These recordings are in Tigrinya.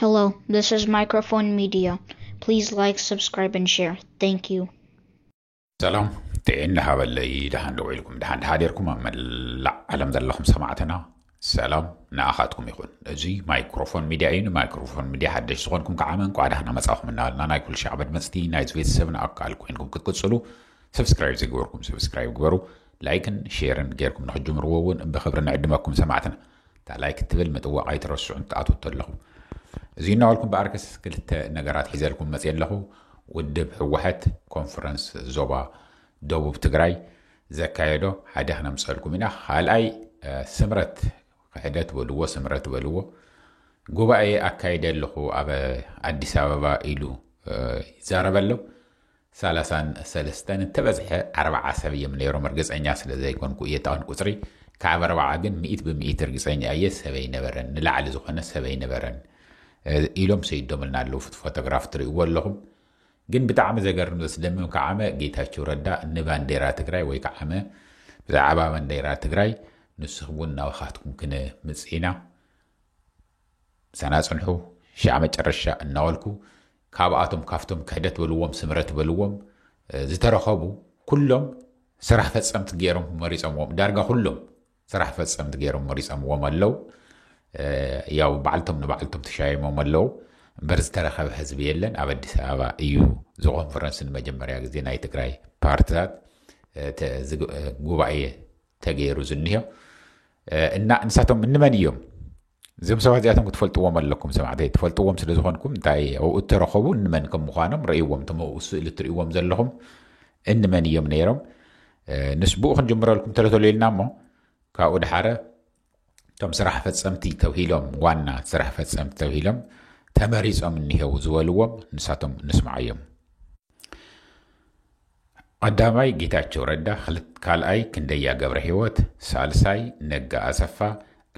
Hello, this is Microphone Media. Please like, subscribe, and share. Thank you. ሰላም ጥዕና ሃበለይ ደሃን ደው ኢልኩም ደሃን ደሃደርኩም ኣብ መላእ ዓለም ዘለኹም ሰማዕትና ሰላም ንኣኻትኩም ይኹን እዚ ማይክሮፎን ሚድያ እዩ ንማይክሮፎን ሚድያ ሓደሽ ዝኾንኩም ከዓ እንኳዕ ዳህና መፃኹም እናበልና ናይ ኩሉ ሻዕ መድመፅቲ ናይዚ ቤተሰብን ኣካል ኮይንኩም ክትቅፅሉ ሰብስክራይብ ዘይገበርኩም ሰብስክራይብ ግበሩ ላይክን ሼርን ጌርኩም ንክጅምርዎ እውን ብክብሪ ንዕድመኩም ሰማዕትና እታ ላይክ እትብል ምጥዋቕ ኣይትረስዑ እንትኣትዉ ተለኹ። እዙይ እናበልኩ እምበኣርከስ ክልተ ነገራት ሒዘልኩም መፅየ ኣለኹ። ውድብ ህወሐት ኮንፈረንስ ዞባ ደቡብ ትግራይ ዘካየዶ ሓደ ክነምፀልኩም ኢና። ካልኣይ ስምረት ክሕደት በልዎ ስምረት በልዎ ጉባኤ ኣካይደ ኣለኹ ኣብ ኣዲስ ኣበባ ኢሉ ይዛረበ ኣሎ። ሰላሳን ሰለስተን እንተበዝሐ ኣርባዓ ሰብ እዬም ነይሮም እርግፀኛ ስለዘይኮንኩ እዬ እታውን ቁፅሪ ካብ ኣርባዓ ግን ሚኢት ብሚኢት እርግፀኛ እዬ ሰብ ኣይነበረን ንላዕሊ ዝኾነ ሰብ ኣይነበረን ኢሎም ሰይዶምልና ኣለው ፉቲ ፎቶግራፍ ትሪእዎ ኣለኹም ግን ብጣዕሚ ዘገርም ዘስደምም ከዓመ ጌታቸው ረዳ ንባንዴራ ትግራይ ወይ ከዓመ ብዛዕባ ባንዴራ ትግራይ ንስኹም እውን ናባኻትኩም ክንምፅእ ኢና ምሳና ፅንሑ ሻዕ መጨረሻ እናወልኩ ካብኣቶም ካብቶም ክሕደት በልዎም ስምረት በልዎም ዝተረኸቡ ኩሎም ስራሕ ፈፀምቲ ገይሮም መሪፀምዎም ዳርጋ ኩሎም ስራሕ ፈፀምቲ ገይሮም መሪፀምዎም ኣለው ያው ባዕልቶም ንባዕልቶም ተሻይሞም ኣለው እምበር ዝተረኸበ ህዝቢ የለን ኣብ ኣዲስ ኣበባ እዩ ዝኮንፈረንስ ንመጀመርያ ግዜ ናይ ትግራይ ፓርትታት ጉባኤ ተገይሩ ዝኒሆ እና ንሳቶም እንመን እዮም እዞም ሰባት እዚኣቶም ክትፈልጥዎም ኣለኩም ሰማዕተይ ትፈልጥዎም ስለ ዝኾንኩም እንታይ ኣብኡ እተረኸቡ እንመን ከም ምዃኖም ረእይዎም እቶም ኣብኡ ስእሊ እትርእይዎም ዘለኹም እንመን እዮም ነይሮም ንስ ብኡ ክንጅምረልኩም ተለተሉ ኢልና እሞ ካብኡ ድሓረ እቶም ስራሕ ፈፀምቲ ተብሂሎም ዋና ስራሕ ፈፀምቲ ተብሂሎም ተመሪፆም እኒሄው ዝበልዎም ንሳቶም ንስምዓዮም ቐዳማይ ጌታቸው ረዳ ክልት ካልኣይ ክንደያ ገብረሂወት ሳልሳይ ነጋ ኣሰፋ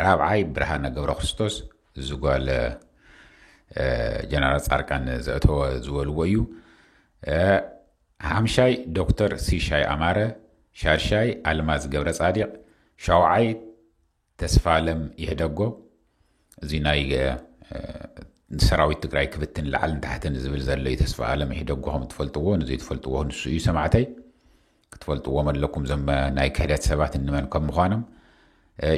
ራብዓይ ብርሃነ ገብረክርስቶስ እዚ ጓል ጀነራል ፃርቃን ዘእተወ ዝበልዎ እዩ ሓምሻይ ዶክተር ሲሻይ ኣማረ ሻድሻይ ኣልማዝ ገብረ ፃዲቅ ሻውዓይ ተስፋለም ኢህደጎ እዚ ናይ ሰራዊት ትግራይ ክብትን ላዕልን ታሕትን ዝብል ዘሎ ተስፋለም ኢህደጎ ከም ትፈልጥዎ ንዘይትፈልጥዎ ንሱ እዩ ሰማዕተይ ክትፈልጥዎም ኣለኩም ዘም ናይ ክሕደት ሰባት እንመን ከም ምዃኖም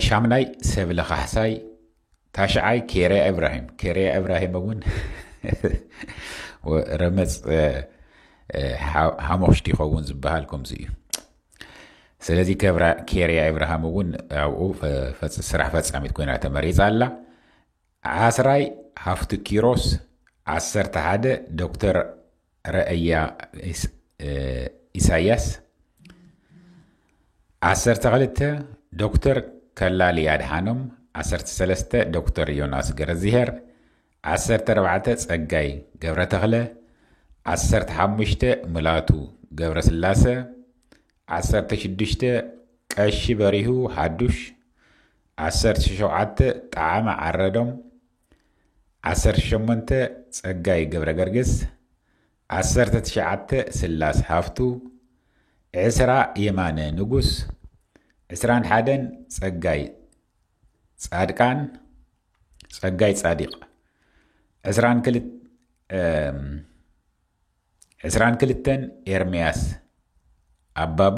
ሻምናይ ሰብለ ካሕሳይ ታሽዓይ ኬርያ እብራሂም ኬርያ እብራሂም እውን ረመፅ ሓሞኽሽቲ ይኸውን ዝበሃል ከምዚ እዩ ስለዚ ኬርያ ኢብርሃም እውን ኣብኡ ስራሕ ፈፃሚት ኮይና ተመሪፃ ኣላ ዓስራይ ሃፍቱ ኪሮስ ዓሰርተ ሓደ ዶክተር ረአያ ኢሳያስ ዓሰርተ ክልተ ዶክተር ከላሊ ኣድሓኖም ዓሰርተ ሰለስተ ዶክተር ዮናስ ገረዝሄር ዓሰርተ ኣርባዕተ ጸጋይ ገብረተኽለ፣ ዓሰርተ ሓሙሽተ ሙላቱ ገብረስላሰ፣ ዓሰርተ ሽዱሽተ ቀሺ በሪሁ ሓዱሽ፣ ዓሰርተ ሸውዓተ ጠዓመ ዓረዶም፣ ዓሰርተ ሸሞንተ ጸጋይ ገብረገርግስ፣ ዓሰርተ ትሽዓተ ስላስ ሃፍቱ፣ ዕስራ የማነ ንጉስ፣ ዕስራን ሓደን ጸጋይ ጻድቃን፣ ጸጋይ ጻዲቕ ዕስራን ክል ዕስራን ክልተን ኤርምያስ ኣባቡ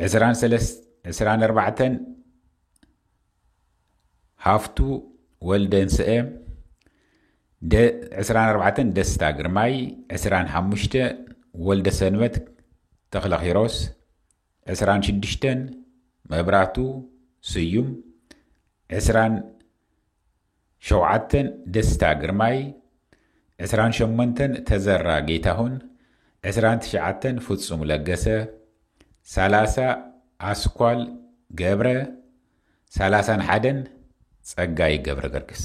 ዕስራን ሰለስ ዕስራን ኣርባዕተን ሃፍቱ ወልደንስአ ዕስራን ኣርባዕተን ደስታ ግርማይ ዕስራን ሓሙሽተ ወልደ ሰንበት ተኽለኺሮስ ዕስራን ሽዱሽተን መብራቱ ስዩም፣ ዕስራን ሸውዓተን ደስታ ግርማይ፣ ዕስራን ሸሞንተን ተዘራ ጌታሁን፣ ዕስራን ትሽዓተን ፍጹም ለገሰ፣ ሰላሳ ኣስኳል ገብረ፣ ሰላሳን ሓደን ጸጋይ ገብረገርግስ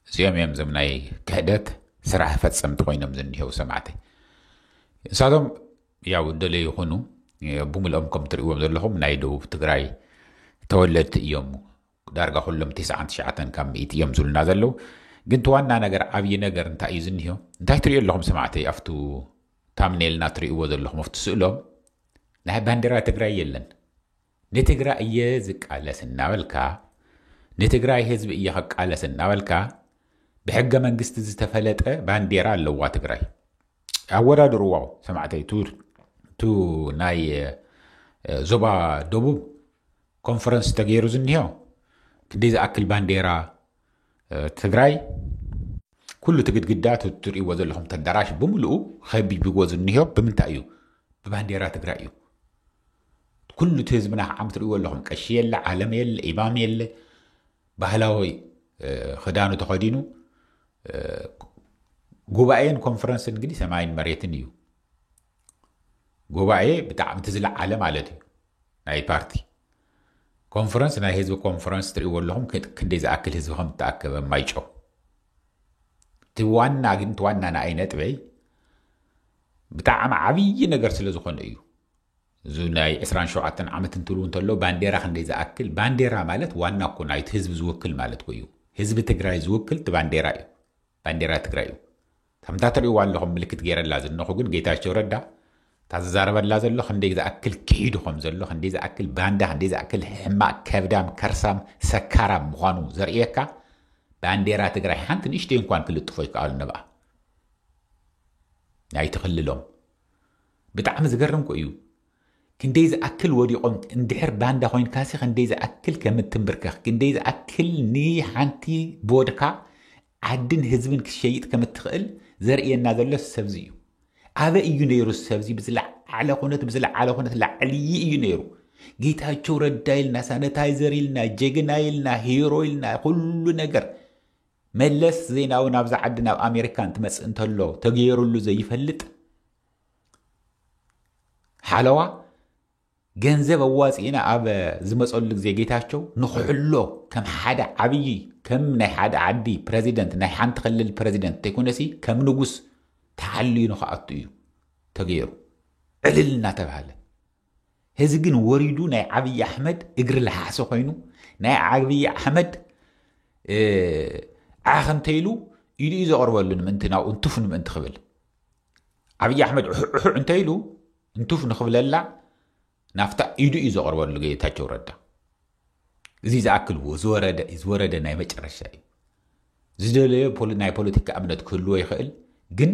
እዚኦም እዮም እዞም ናይ ክሕደት ስራሕ ፈጸምቲ ኮይኖም ዝኒሄው ሰማዕተይ እሳቶም ያው ደለዩ ይኹኑ ብምልኦም ከም ትርእዎም ዘለኹም ናይ ደቡብ ትግራይ ተወለድቲ እዮም ዳርጋ ኩሎም ትስዓን ትሽዓተን ካብ ምእቲ እዮም ዝብሉና ዘለዉ ግን እቲ ዋና ነገር ዓብዪ ነገር እንታይ እዩ ዝኒሆ እንታይ ትሪኦ ኣለኹም ሰማዕተይ ኣብቱ ታምኔልና ትርእይዎ ዘለኹም ኣብቲ ስእሎም ናይ ባንዴራ ትግራይ የለን ንትግራይ እየ ዝቃለስ እናበልካ፣ ንትግራይ ህዝቢ እየ ክቃለስ እናበልካ፣ ብሕገ መንግስቲ ዝተፈለጠ ባንዴራ ኣለዋ ትግራይ። ኣወዳድርዎ ሰማዕተይ ቱ ናይ ዞባ ደቡብ ኮንፈረንስ ተገይሩ ዝኒሆ ክንደይ ዝኣክል ባንዴራ ትግራይ ኩሉ እቲ ግድግዳ ትሪእዎ ዘለኹም ተዳራሽ ብምልኡ ከቢብዎ ዝኒሆ ብምንታይ እዩ? ብባንዴራ ትግራይ እዩ። ኩሉ እቲ ህዝብና ከዓ ትሪእዎ ኣለኹም ቀሺ የለ፣ ዓለም የለ፣ ኢማም የለ ባህላዊ ክዳኑ ተኸዲኑ ጉባኤን ኮንፈረንስን እንግዲህ ሰማይን መሬትን እዩ። ጉባኤ ብጣዕሚ እቲ ዝለዓለ ማለት እዩ ናይ ፓርቲ ኮንፈረንስ ናይ ህዝቢ ኮንፈረንስ ትሪእዎ ኣለኹም ክንደይ ዝኣክል ህዝቢ ከም እተኣከበ ማይጨው እቲ ዋና ግን እቲ ዋና ንኣይ ነጥበይ ብጣዕሚ ዓብዪ ነገር ስለ ዝኾነ እዩ እዚ ናይ 27 ዓመት እንትብሉ እንተሎ ባንዴራ ክንደይ ዝኣክል ባንዴራ ማለት ዋና እኮ ናይቲ ህዝቢ ዝውክል ማለት እኮ እዩ ህዝቢ ትግራይ ዝውክል እቲ ባንዴራ እዩ ባንዴራ ትግራይ እዩ ከምታ ትሪእዋ ኣለኹም ምልክት ገይረላ ዝነኹ ግን ጌታቸው ረዳ እታ ዝዛረበላ ዘሎ ክንደይ ዝኣክል ክሒዱ ከም ዘሎ ክንደይ ዝኣክል ባንዳ ክንደይ ዝኣክል ሕማቅ ከብዳም ከርሳም ሰካራም ምዃኑ ዘርእየካ ባንዴራ ትግራይ ሓንቲ ንእሽተይ እንኳን ክልጥፎ ይከኣሉ ነብኣ ናይቲ ክልሎም ብጣዕሚ ዝገርም ኮ እዩ ክንደይ ዝኣክል ወዲቆም እንድሕር ባንዳ ኮይንካሲ ክንደይ ዝኣክል ከም እትምብርከኽ ክንደይ ዝኣክል ንሓንቲ ቦድካ ዓድን ህዝብን ክትሸይጥ ከም እትኽእል ዘርእየና ዘሎ ሰብዚ እዩ ኣበ እዩ ነይሩ ሰብዚ ብዝለዓለ ኩነት ብዝለዓለ ኩነት ላዕልይ እዩ ነይሩ ጌታቸው ረዳ ኢልና ሳኒታይዘር ኢልና ጀግና ኢልና ሂሮ ኢልና ኩሉ ነገር መለስ ዜናዊ ናብዛ ዓዲ ናብ ኣሜሪካ እንትመፅእ እንተሎ ተገይሩሉ ዘይፈልጥ ሓለዋ ገንዘብ ኣዋፂእና ኣብ ዝመፀሉ ግዜ ጌታቸው ንክሕሎ ከም ሓደ ዓብዪ ከም ናይ ሓደ ዓዲ ፕረዚደንት ናይ ሓንቲ ክልል ፕረዚደንት ተይኮነሲ ከም ንጉስ ተሓልዩ ንክኣቱ እዩ ተገይሩ ዕልል እናተባሃለ እዚ ግን ወሪዱ ናይ ዓብዪ ኣሕመድ እግሪ ለሓሲ ኮይኑ ናይ ዓብዪ ኣሕመድ ዓኽ እንተይሉ ኢሉ እዩ ዘቕርበሉ ንምእንቲ ናብኡ እንትፍ ንምእንቲ ክብል ዓብዪ ኣሕመድ ዑሑዑ እንተኢሉ እንቱፍ ንኽብለላ ናፍታ ኢዱ እዩ ዘቕርበሉ ጌታቸው ረዳ እዚ ዝኣክልዎ ዝወረደ ናይ መጨረሻ እዩ ዝደለዮ ናይ ፖለቲካ እምነት ክህልዎ ይኽእል ግን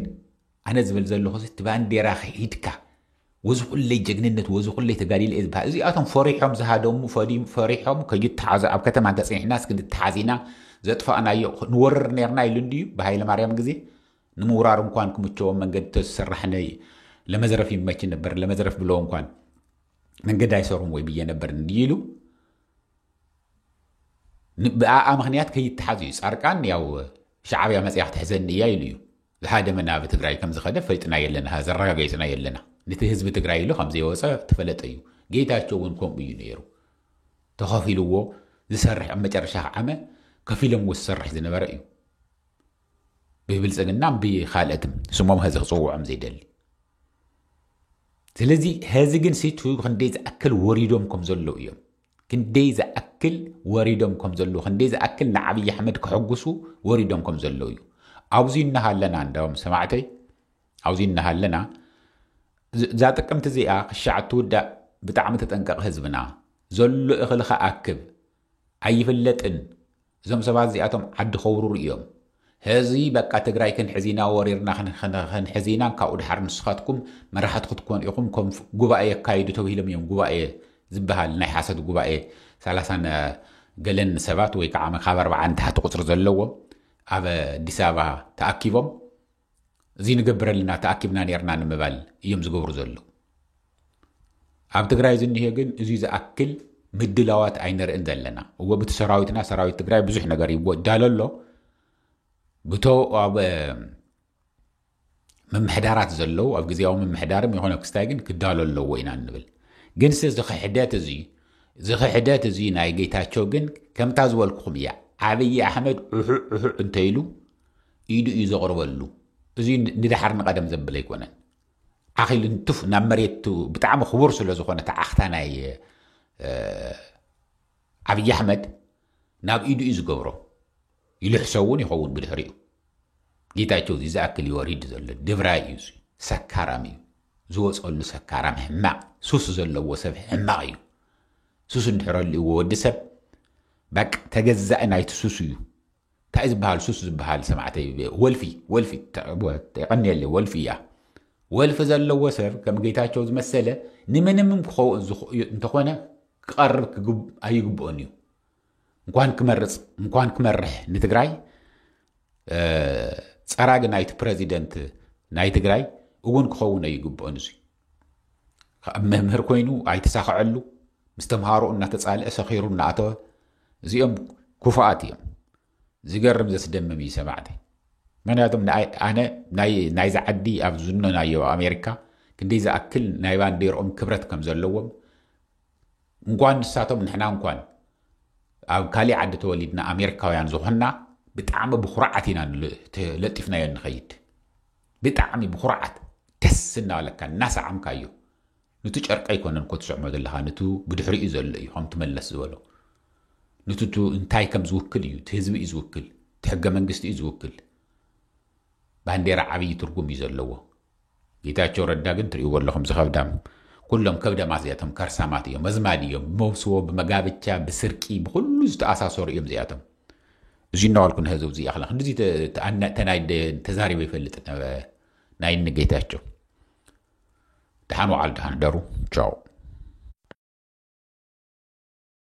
ኣነ ዝብል ዘለኹ እቲ ባንዴራ ሂድካ ወዚ ኩለይ ጀግንነት ወዚ ኩለይ ተጋዲለ እየ ዝበሃል እዚኣቶም ፈሪሖም ዝሃደሙ ፈሪሖም ከይተሓዙ ኣብ ከተማ እንተፅኒሕናስ ክንተሓዝ ኢና ዘጥፋእናዮ ንወርር ነርና ኢሉ እንድዩ ብሃይለ ማርያም ግዜ ንምውራር እንኳን ክምቸዎም መንገድ ተዝሰራሕ ነይ ለመዘረፍ ይመች ነበር ለመዘረፍ ብለው እንኳን መንገድ ኣይሰሩም ወይ ብዬ ነበር እንዲሉ ብኣኣ ምክንያት ከይተሓዙ እዩ ፃርቃን ያው ሻዓብያ መፅያ ክትሕዘኒ እያ ኢሉ እዩ ዝሃደመ ናብ ትግራይ ከም ዝኸደ ፈልጥና የለና ዘረጋገፅና የለና ነቲ ህዝቢ ትግራይ ኢሉ ከም ዘይወፀ ተፈለጠ እዩ ጌታቸው እውን ከምኡ እዩ ነይሩ ተኸፊልዎ ዝሰርሕ ኣብ መጨረሻ ዓመ ከፊሎም ዝሰርሕ ዝነበረ እዩ ብብልፅግናን ብኻልኦትን ስሞም ሀዚ ክፅውዖም ዘይደሊ ስለዚ ሀዚ ግን ሲቱ ክንደይ ዝኣክል ወሪዶም ከም ዘለዉ እዮም ክንደይ ዝኣክል ወሪዶም ከም ዘለዉ ክንደይ ዝኣክል ንዓብዪ ኣሕመድ ክሕጉሱ ወሪዶም ከም ዘለዉ እዩ ኣብዚ እናሃለና እንዳም ሰማዕተይ ኣብዚ እናሃለና እዛ ጥቅምቲ እዚኣ ክሻዕ እትውዳእ ብጣዕሚ ተጠንቀቕ ህዝብና ዘሎ እኽልኻ ኣክብ ኣይፍለጥን እዞም ሰባት እዚኣቶም ዓዲ ከውርሩ እዮም ሀዚ በቃ ትግራይ ክንሕዝ ኢና ወሪርና ክንሕዝ ኢና ካብኡ ድሓር ንስኻትኩም መራሕቲ ክትኮኑ ኢኹም ከም ጉባኤ የካይዱ ተብሂሎም እዮም ጉባኤ ዝበሃል ናይ ሓሶት ጉባኤ ሰላሳን ገለን ሰባት ወይ ከዓ ካብ ኣርባዓ ንታሕቲ ቁፅሪ ዘለዎም ኣብ ኣዲስ ኣበባ ተኣኪቦም እዚ ንገብረልና ተኣኪብና ኔርና ንምባል እዮም ዝገብሩ ዘለዉ። ኣብ ትግራይ ዝኒሄ ግን እዚ ዝኣክል ምድላዋት ኣይንርእን ዘለና እወ ብቲ ሰራዊትና ሰራዊት ትግራይ ብዙሕ ነገር ይዳሎ ኣሎ ብቶ ኣብ ምምሕዳራት ዘለዉ ኣብ ግዜያዊ ምምሕዳርም ይኾነ ክስታይ ግን ክዳሎ ኣለዎ ኢና ንብል ግን ስ ዝኽሕደት እዚ ዝኽሕደት እዚ ናይ ጌታቸው ግን ከምታ ዝበልኩኹም እያ ዓብዪ ኣሕመድ ዑሑዕ ዑሑዕ እንተይሉ ኢዱ እዩ ዘቕርበሉ። እዚ ንደሓር ንቐደም ዘብል ኣይኮነን። ዓኺሉ ንቱፍ ናብ መሬቱ ብጣዕሚ ክቡር ስለ ዝኾነ እቲ ዓኽታ ናይ ዓብዪ ኣሕመድ ናብ ኢዱ እዩ ዝገብሮ። ይልሕሶ እውን ይኸውን ብድሕሪኡ። ጌታቸው እዚ ዝኣክል ይወሪድ ዘሎ ድብራይ እዩ እዚ ሰካራም እዩ ዝወፀሉ ሰካራም ሕማቕ ሱስ ዘለዎ ሰብ ሕማቕ እዩ ሱስ እንድሕረልዎ ወዲ ሰብ በቃ ተገዛኢ ናይቲ ሱስ እዩ ታይ ዝብሃል ሱስ ዝብሃል ሰማዕተይ ወልፊ ወልፊ የቀንየለይ ወልፊ እያ ወልፊ ዘለዎ ሰብ ከም ጌታቸው ዝመሰለ ንምንምም ክኸውን ዝኽእዩ እንተኾነ ክቐርብ ክግብ ኣይግብኦን እዩ እንኳን ክመርፅ እንኳን ክመርሕ ንትግራይ ፀራጊ ናይቲ ፕረዚደንት ናይ ትግራይ እውን ክኸውን ኣይግብኦን እዙይ ካብ መምህር ኮይኑ ኣይተሳኸዐሉ ምስ ተምሃሮ እናተፃልአ ሰኺሩ እናኣተወ እዚኦም ኩፋኣት እዮም ዝገርም ዘስደምም እዩ ሰማዕቲ ምክንያቱም ኣነ ናይዚ ዓዲ ኣብ ዝኖናዮ ኣሜሪካ ክንደይ ዝኣክል ናይ ባንዴርኦም ክብረት ከም ዘለዎም እንኳን ንሳቶም ንሕና እንኳን ኣብ ካሊእ ዓዲ ተወሊድና ኣሜሪካውያን ዝኾንና ብጣዕሚ ብኩርዓት ኢና ለጢፍናዮ ንኸይድ ብጣዕሚ ብኩርዓት ደስ እናበለካ እናሰዓምካዮ ንቱ ጨርቂ ኣይኮነን እኮ ትስዕሞ ዘለኻ ንቱ ብድሕሪኡ ዘሎ እዩ ከምቲ መለስ ዝበሎ ንቱ ቱ እንታይ ከም ዝውክል እዩ እቲ ህዝቢ እዩ ዝውክል እቲ ሕገ መንግስቲ እዩ ዝውክል ባንዴራ ዓብዪ ትርጉም እዩ ዘለዎ ጌታቸው ረዳ ግን ትሪእዎ ኣለኹም ዝኸብዳም ኩሎም ከብደማት እዚኣቶም ከርሳማት እዮም መዝማድ እዮም ብመውስቦ ብመጋብቻ ብስርቂ ብኩሉ ዝተኣሳሰሩ እዮም እዚኣቶም እዚ እናዋልኩ ንህዝብ እዚ ያክላ ክንዲዚ ተዛሪበ ይፈልጥ ናይ እኒ ጌታቸው ደሓን ወዓል ደሓን ደሩ ቻው